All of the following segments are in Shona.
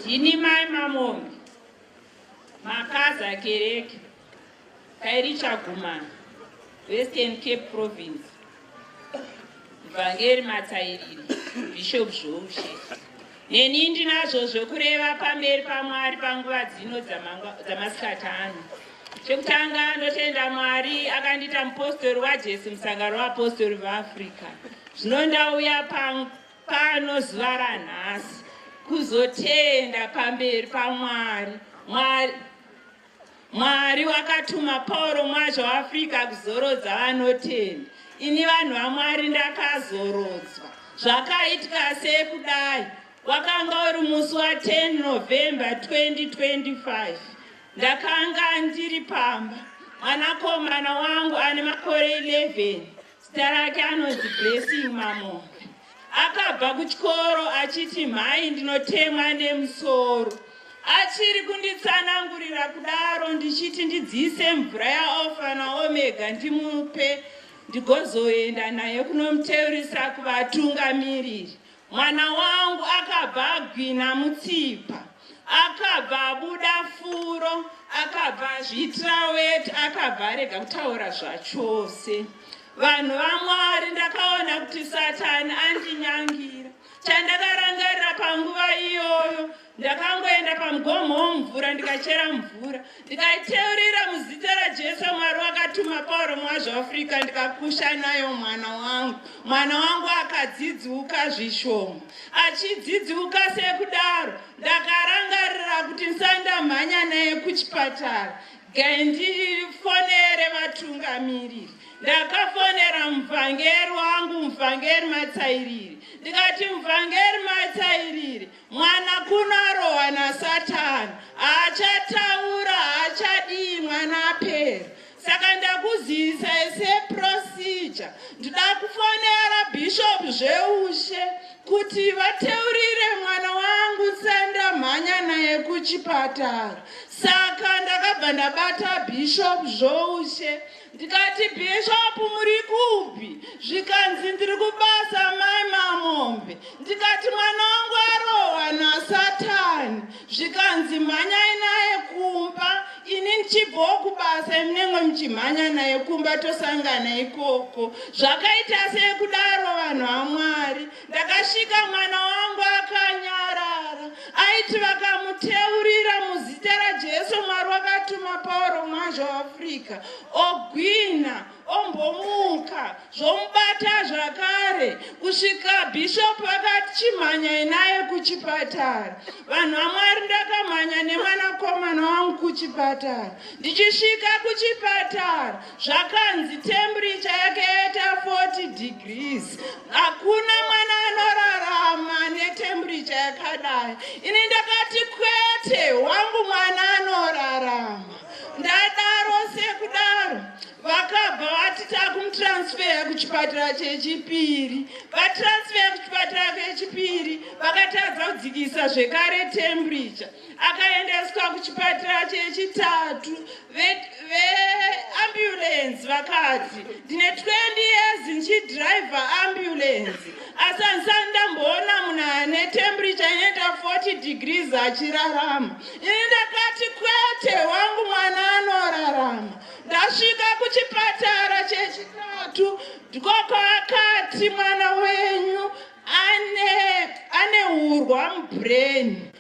Ndini mai Mamombe, makazi akereke kairi chagumana Western Cape Province, Vhangeri Matsairiri, Bishop Zvoushe. Neni ndinazvo zvekureva pamberi paMwari panguva dzino dzamasikati ano. Chekutanga ndotenda Mwari akandita mupostori waJesu musangano weapostori veAfrica. Zvino ndauya pano pano zuva ranhasi kuzotenda pamberi pamwari mwari mwari wakatuma pauro mwazha waafrica kuzorodza vanotenda ini vanhu vamwari ndakazorodzwa zvakaitika sei kudai wakanga uri musi wa 10 november 2025 ndakanga ndiri pamba mwanakomana wangu ane makore 11 Zita rake anonzi Blessing Mamo. Akabva kuchikoro achiti mhai ndinotemwa nemusoro. Achiri kunditsanangurira kudaro ndichiti ndidziise mvura yaOfa naOmega ndimupe ndigozoenda naye kunomuteurisa kuvatungamiriri Mwana wangu akabva agwina mutsipa, akabva abuda furo, akabva azviitira weti, akabva arega kutaura zvachose. Vanhu vaMwari, ndakaona kuti Satani andinyangira. Chandakarangarira panguva iyoyo ndakangoenda pamugomo womvura ndikachera mvura ndikaiteurira muzita rajesu mwari wakatuma pauro mwazvo afrika ndikakusha nayo mwana wangu mwana wangu akadzidziuka zvishoma achidzidziuka sekudaro ndakarangarira kuti ndisandamhanya naye kuchipatara gandifonere vatungamiriri ndakafonera muvhangeri wangu muvhangeri matsairiri ndikati muvhangeri matsairiri Mwana kuno arohwa nasatani, haachataura, haachadii mwana apera. Saka ndakuzivisa ese procedure, ndida kufonera bishop zveushe kuti vateurire mwana wangu senda mhanya naye kuchipatara. Saka ndakabva ndabata bishop zvoushe. ndikati bishop muri kupi zvikanzi ndiri kubasa mai mamombe ndikati mwana wangu arohwa nasatani zvikanzi mhanyai naye kumba ini ndichibvawo kubasa imunenge muchimhanya naye kumba tosangana ikoko zvakaita sekudaro vanhu vamwari Ndakasvika mwana wangu akanyarara aiti vakamuteurira muzita raJesu Mwari wakatuma Pauro mwazvo Africa ogwina ombomuka zvomubata zvakare kusvika bishop vakati chimhanyai naye kuchipatara vanhu vamwari ndakamhanya nemwanakomana wangu kuchipatara ndichisvika kuchipatara zvakanzi temperature yake yaita 40 degrees hakuna mwana anorarama netemperature yakadai ini ndakati kwete wangu mwana anorarama ndadaro sekudaro vakabva vati takumutransfeya kuchipatara chechipiri vatransfeya kuchipatara kechipiri vakatadza kudzikisa zvekare temperature akaendeswa kuchipatara chechitatu veambulenzi vakati ndine 20 years ndichidriver ambulenzi asi handisati ndamboona munhu ane temperature inoita 40 degrees achirarama ini ndakati kwete wangu mwana anorarama ndasvika kuchipatara chechitatu ndikoko akati mwana wenyu ane ane urwa mubrain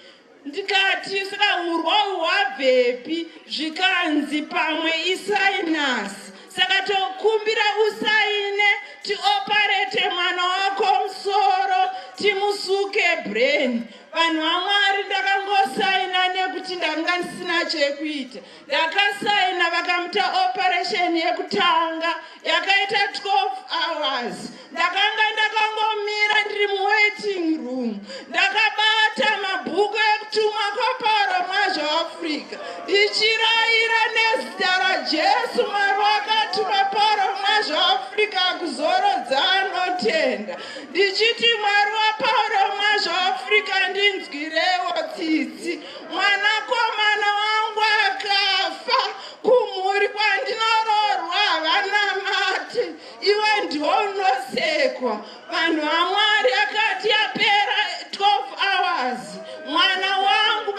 ndikati saka urwa hwabvepi zvikanzi pamwe isainasi saka tokumbira usaine tioparete mwana wako musoro timusuke brain vanhu vamwari ndakangosaina nekuti ndanga ndisina chekuita ndakasaina vakamuta operation yekutanga yakaita 12 hours ndakanga ndakangomira ndiri muwaiting room ndakabata mabhuku ekutumwa kwaparo mwazvo africa ndichirayira nezita rajesu mwari wakatuma paro mwazvo africa kuzorodza anotenda ndichiti mwari waparo mwazvo africa ndinzwirewo tsitsi Mwanakomana wangu akafa kumhuri kwandinoroorwa havanamati iwe ndiwo unosekwa vanhu vamwari akati yapera 12 hours mwana wangu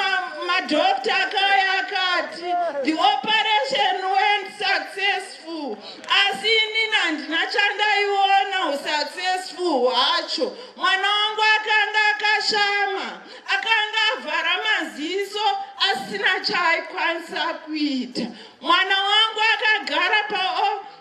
madokta ma akauya akati the operation went successful asi inini handina chandaiona usuccessful hwacho mwana wangu akanga akashama akanga avhara maziso asina chaaikwanisa kuita mwana wangu akagara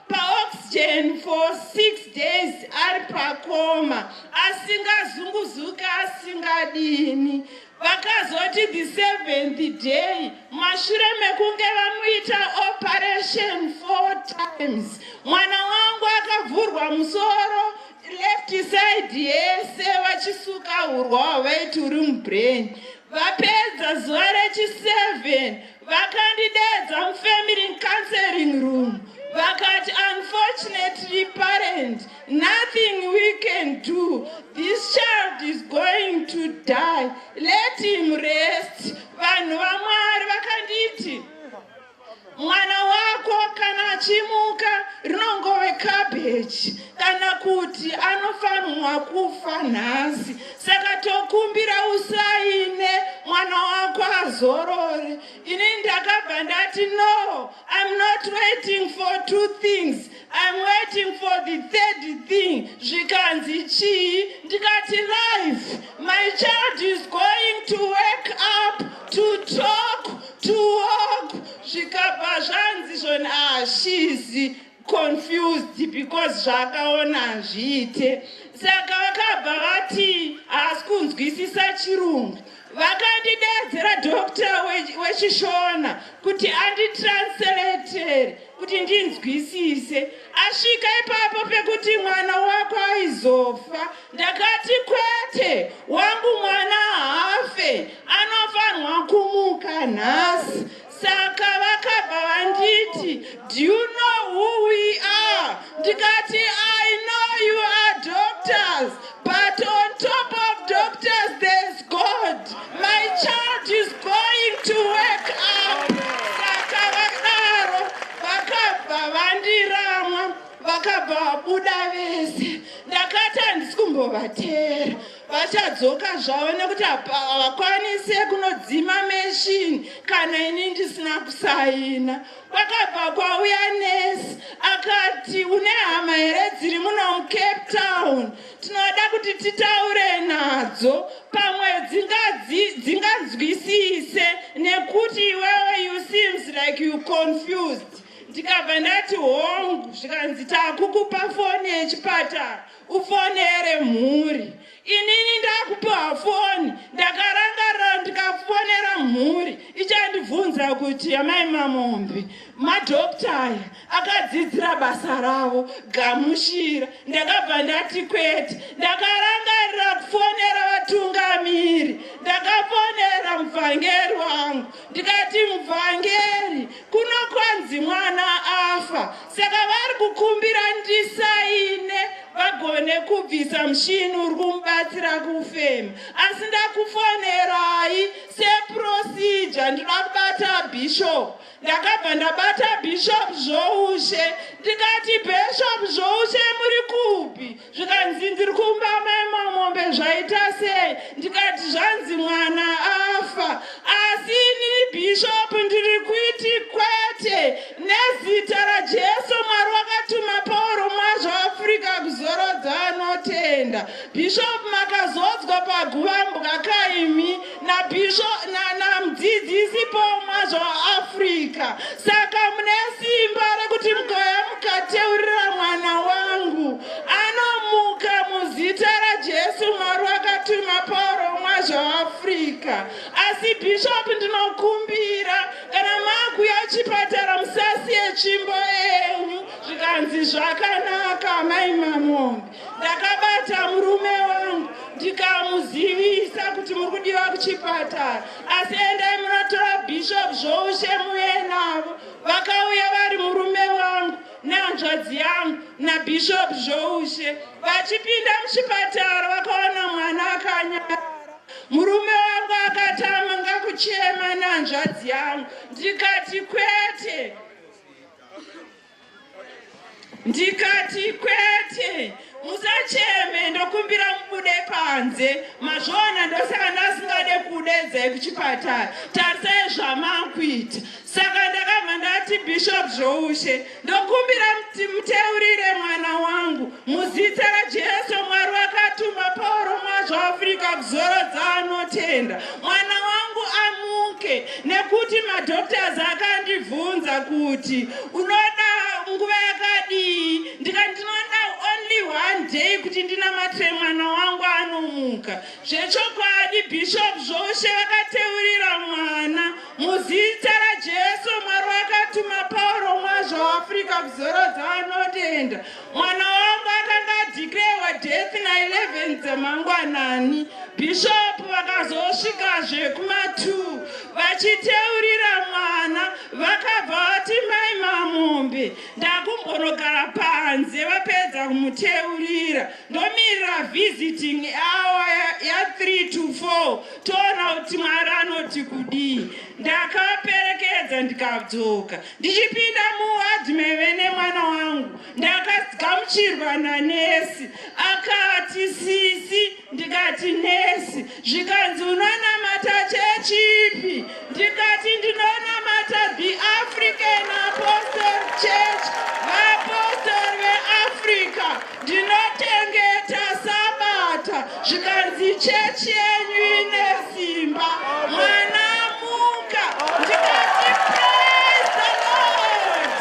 paoxygen pa for six days ari pakoma asingazunguzuki asingadini vakazoti the seventh day mashure mekunge vamuita operation four times mwana wangu akavhurwa musoro left side yese vachisuka hurwa hwavaiti uri mubrain vapedza zuva rechi7 vakandidedza mufamily counseling room vakati unfortunately parent nothing we can do this child is going to die let him rest vanhu vamwari vakanditi Mwana wako kana achimuka rinongove cabbage kana kuti anofanirwa kufa nhasi. Saka tokumbira usaine mwana wako azorore. Ini ndakabva ndati no, I'm not waiting for two things. I'm waiting for the third thing zvikanzi chii ndikati life my child is going to wake up to talk to walk zvikabva zvanzi zvoni ah she's confused because zvaakaona hazviite saka vakabva vati haasi kunzwisisa chirungu Vakandideedzera doctor weChishona kuti anditranslatere kuti ndinzwisise. Asvika ipapo pekuti mwana wako aizofa, ndakati kwete, wangu mwana haafe, anofanirwa kumuka nhasi. Saka vakabva vanditi do you know who we are ndikati I know you are doctors but on top of doctors there's God my child is going to wake up saka vakadaro vakabva vandiramwa vakabva vabuda vese ndakati handisi kumbovateera vachadzoka zvavo nekuti havakwanise kunodzima meshini kana ini ndisina kusaina kwakabva kwauya nesi akati une hama here dziri muno mucape town tinoda kuti titaure nadzo pamwe dzinganzwisise nekuti iwewe you seems like you confused ndikabva ndati hongu zvikanzi takukupa foni yechipatara ufonere mhuri inini ndakupiwa foni ndakarangarira ndikafonera mhuri ichandibvunza kuti amai mamombe madokta aya akadzidzira basa ravo gamushira ndakabva ndati kwete ndakarangarira kufonera vatungamiri ndakafonera muvhangeri wangu ndikati muvhangeri Kuno kwanzi mwana afa saka vari kukumbira ndisaine vagone kubvisa mushini uri kumubatsira kufema asi ndakufonerai seprosija ndinoda kubata bishop ndakabva ndabata bishop zvoushe ndikati bishop zvoushe muri kupi zvikanzi ndiri kumba maima mombe zvaita sei ndikati zvanzi mwana afa asi inini bhishopu ndiri kuiti kwete nezita rajesu mwari wakatuma pauro mwazvo afrika kuzorodza anotenda bhishopu makazodzwa paguvambwa kaimi nabhisho namudzidzisi pomwa zvaafrica saka mune simba rekuti mukauya mukateurira mwana wangu anomuka muzita rajesu mwari wakatuma pauro mwa zvaafrica asi bhishopu ndinokumbira kana makuya chipatara musasiye tsvimbo yenyu zvikanzi zvakanaka mai mamombe ndakabata murume wangu ndikamuzivisa kuti muri kudiwa kuchipatara asi endai munotora bishop zvoushe muye navo vakauya vari murume wangu nehanzvadzi yangu nabishop zvoushe vachipinda muchipatara vakaona mwana akanyara murume wangu akatama ngakuchema nehanzvadzi yangu ndikati kwete ndikati kwete musacheme ndokumbira mubude panze mazvoona ndosaka ndasingade kudedzai kuchipatara tarisai zvamakuita saka ndakabva ndati bishop zvoushe ndokumbira muteurire mwana wangu Muzita raJesu Mwari wakatuma Pauro mwazvo Afrika kuzorodza anotenda. Mwana wangu amuke nekuti madoctors akandibvunza kuti unoda nguva yakadii ndikati ndinoda only one day kuti ndinamate mwana wangu anomuka. Zvechokwadi Bishop Zvoshe vakateurira mwana muzita raJesu Mwari wakatuma Pauro mwazvo Afrika kuzorodza anotenda. Mwana wangu akanga adhikirewa death na 11 dzemangwanani. Bishop vakazosvikazve kuma 2 vachiteurira mwana vakabva vati mai mamombe ndakumbonogara panze vapedza kumuteurira ndomirira visiting hour ya 3 to 4 toona kuti mwari anoti kudii ndakaperekedza ndikadzoka Ndichipinda muwadhi maive nemwana wangu ndakagamuchirwa nanesi akati sisi ndikati nesi zvikanzi unonamata chechipi ndikati ndinonamata the african apostle church vaapostori veafrica ndinotengeta sabata zvikanzi chechi yenyu ine simba mwana amuka ndikati praise the lord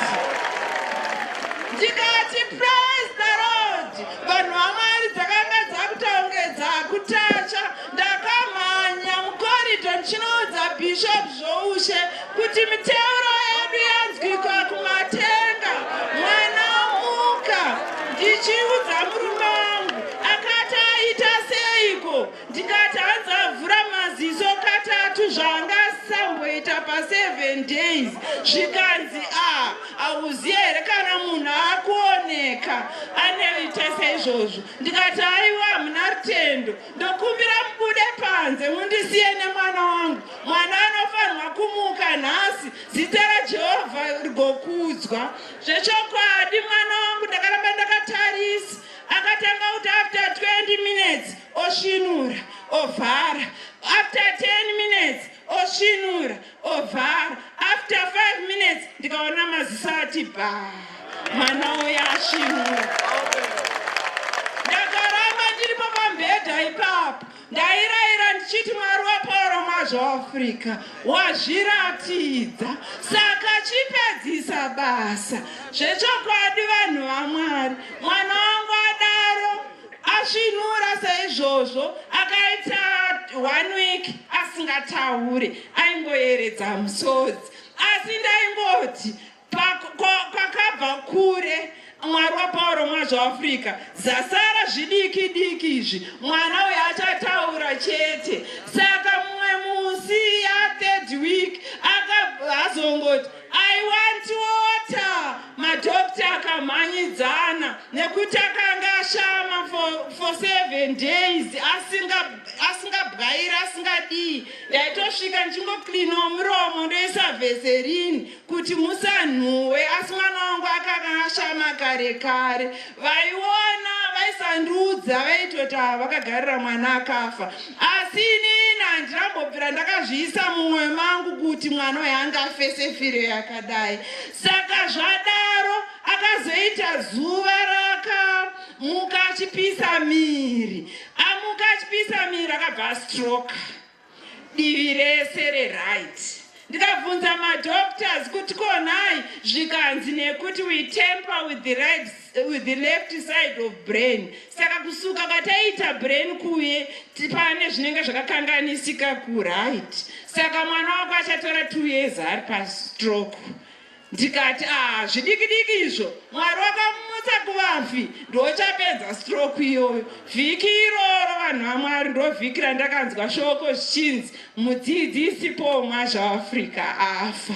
ndikati praise the lord vanhu vamwari dzakanga dzakutaungedza kutacha Ndakamhanya mucorridor ndichinoudza Bishop Zvoushe kuti miteuro yedu yanzwikwa kumatenga. Mwana omuka ndichiudza murume wangu akati aita seiko ndikati hanzi avhura maziso katatu zvaanga asamboita paseven days zvikanzi a ah, hauziye here kana munhu akuoneka aneita seizvozvo ndikati aiwa hamuna rutendo Ndokumbira mubude panze mundisiye nemwana wangu. Mwana anofanirwa kumuka nhasi, zita raJehovha rigokudzwa. Zvechokwadi mwana wangu ndakaramba ndakatarisa. Akatanga kuti after 20 minutes osvinura, ovhara. After 10 minutes osvinura. ovhara after five minutes ndikaona maziso ati bha mwana uyo asvinura ndakaramba ndiripo pambhedha ipapo ndairaira ndichiti mwari wapauro mazvoafrica wazviratidza saka chipedzisa basa zvechokwadi vanhu vamwari mwana wangu adaro Asvinura saizvozvo akaita one week asingataure aingoyeredza musodzi asi ndaingoti kwakabva kure mwari wapauro mwazvo africa zasara zvidiki diki izvi mwana uyo achataura chete saka mumwe musi yathird week akazongoti I want water. Madokta akamhanyidzana nekuti akanga ashama for, for seven days asingabwaira asingadii. Ndaitosvika ndichingoklinwa muromo ndoisa veserini kuti musanhuwe asi mwana wangu akanga ashama kare kare. vaiona vaisandiudza vaitoti ava vakagarira mwana akafa asi inini handinambobvira ndakazviisa mumwoyo mangu kuti mwana uyo anga afese firo yakadai saka zvadaro akazoita zuva rakamuka achipisa miri amuka achipisa miri akabva astroke divi rese reright ndikabvunza madoctors kuti konai zvikanzi nekuti we temper with the, right, with the left side of brain saka kusuka kwataiita brain kuye pane zvinenge zvakakanganisika kuright saka mwana wako achatora two years ari pastroke ndikati aa zvidikidiki izvo mwari wakamumutsa kuvafi ndochapedza stroke iyoyo vhiki iroro vanhu vamwari ndovhiki randakanzwa shoko zvichinzi mudzidzisi paul mwazvaafrica afa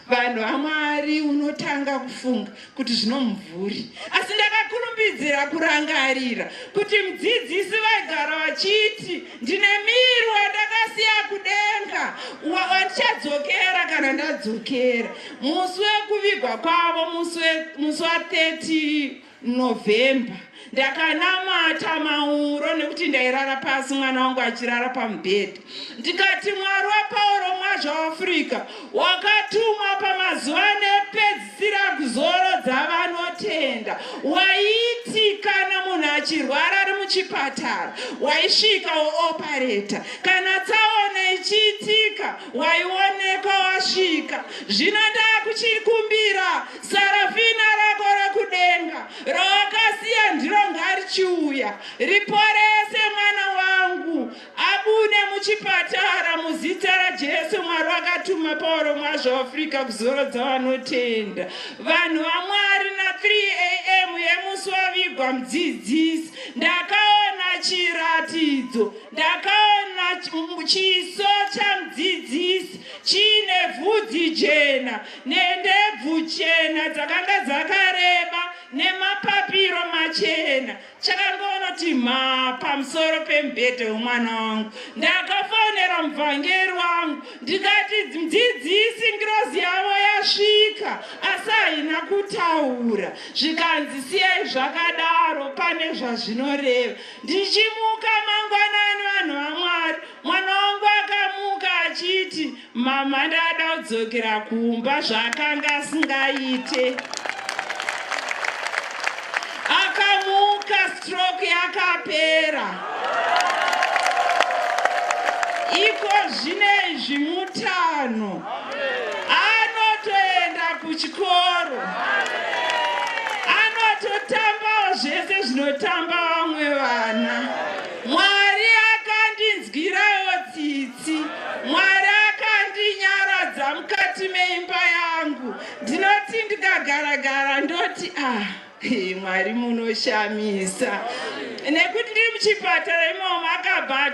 vanhu vamwari unotanga kufunga kuti zvinomuvhuri asi ndakakurumbidzira kurangarira kuti mudzidzisi vaigara vachiti Ndine miro yandakasiya kudenga wa- wandichadzokera kana ndadzokera musi wekuvigwa kwavo musi we- musi wa 30 novhemba ndakanamata mauro nekuti ndairara pasi mwana wangu achirara pamubhedha ndikati mwari wapauro mwazvaafurika wakatumwa pamazuva anepedzisira kuzorodza vanotenda waiti kana munhu achirwara ari muchipatara waisvika woopareta kana tsaona ichiitika waioneka wasvika zvino ndakuchikumbira sarafina rako rekudenga rawakasiya ndiro ngarichiuya riporese mwana wangu Abude muchipatara muzita raJesu Mwari wakatuma Pauro mwazvo Africa kuzorodza vanotenda vanhu vaMwari na 3am yemusi wavigwa mudzidzisi ndakaona chiratidzo ndakaona chiso chamudzidzisi chiine vhudzi jena nendebvu chena dzakanga dzakareba nemapapiro machena chakangonoti mhaa pamusoro pemubhedhe wemwana wangu ndakafonera mubvangeri wangu ndikati dzidzisi ngirozi yavo yasvika asi haina kutaura zvikanzi siyai zvakadaro pane zvazvinoreva ndichimuka mangwanani vanhu vamwari mwana wangu akamuka achiti Mama ndada kudzokera kumba zvaakanga asingaite. Akamuka stroke yakapera. Iko zvine izvi mutano. Anotoenda kuchikoro. Anototambawo zvese zvinotamba vamwe vana. Mwari Mwari akandinyaradza mukati meimba yangu. Ndinoti ndikagara gara ndoti ah Mwari munoshamisa. Nekuti ndiri muchipatara imomo akabva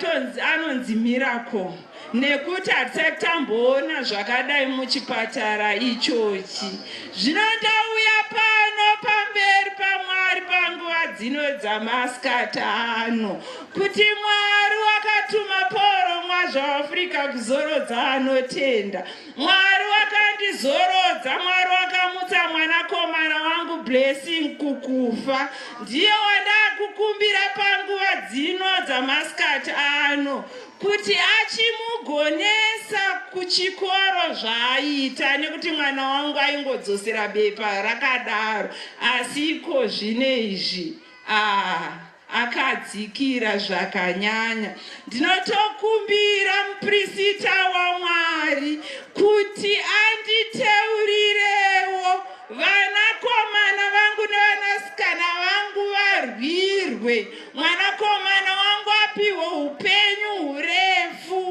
anonzi miracle nekuti hatisati tamboona zvakadai muchipatara ichochi. Zvino ndauya pano pamberi pamwari panguva dzino dzamasikati ano. Kuti Mwari wakatuma Pauro mwazvaAfrica kuzorodza anotenda. Mwari wakandizorodza, Mwari wakamutsa mwanakomana wangu Blessing kukufa. Ndiye wandakukumbira panguva dzino dzamasikati ano kuti achimugonesa kuchikoro zvaaita nekuti mwana wangu aingodzosera bepa rakadaro asi iko zvine izvi ah. akadzikira zvakanyanya. Ndinotokumbira muprisita waMwari kuti anditeurirewo vanakomana vangu nevanasikana vangu varwirwe, mwanakomana wangu apihwe upenyu hurefu.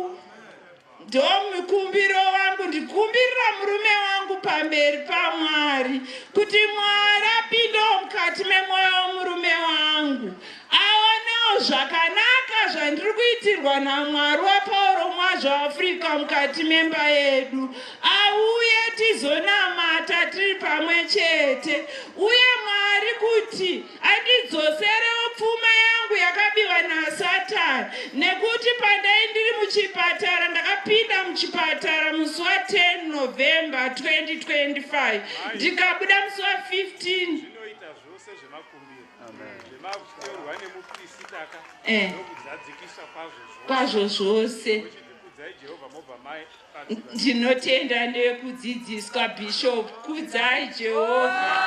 Ndomukumbiro wangu ndikumbirira murume wangu pamberi paMwari kuti Mwari apindewo mukati memwoyo wemurume wangu aonewo zvakanaka zvandiri kuitirwa naMwari waPauro Mwazvo Africa mukati memba yedu auye tizonamata tiri pamwe chete uye Mwari kuti andidzoserewo pfuma yangu yakabiwa nasatan nekuti pandai ndiri muchipatara ndakapinda muchipatara musi wa 10 november 2025 ndikabuda musi wa 15 eh. kwazvo zvose Ndinotenda nekudzidziswa Bishop. Kudzai Jehovha.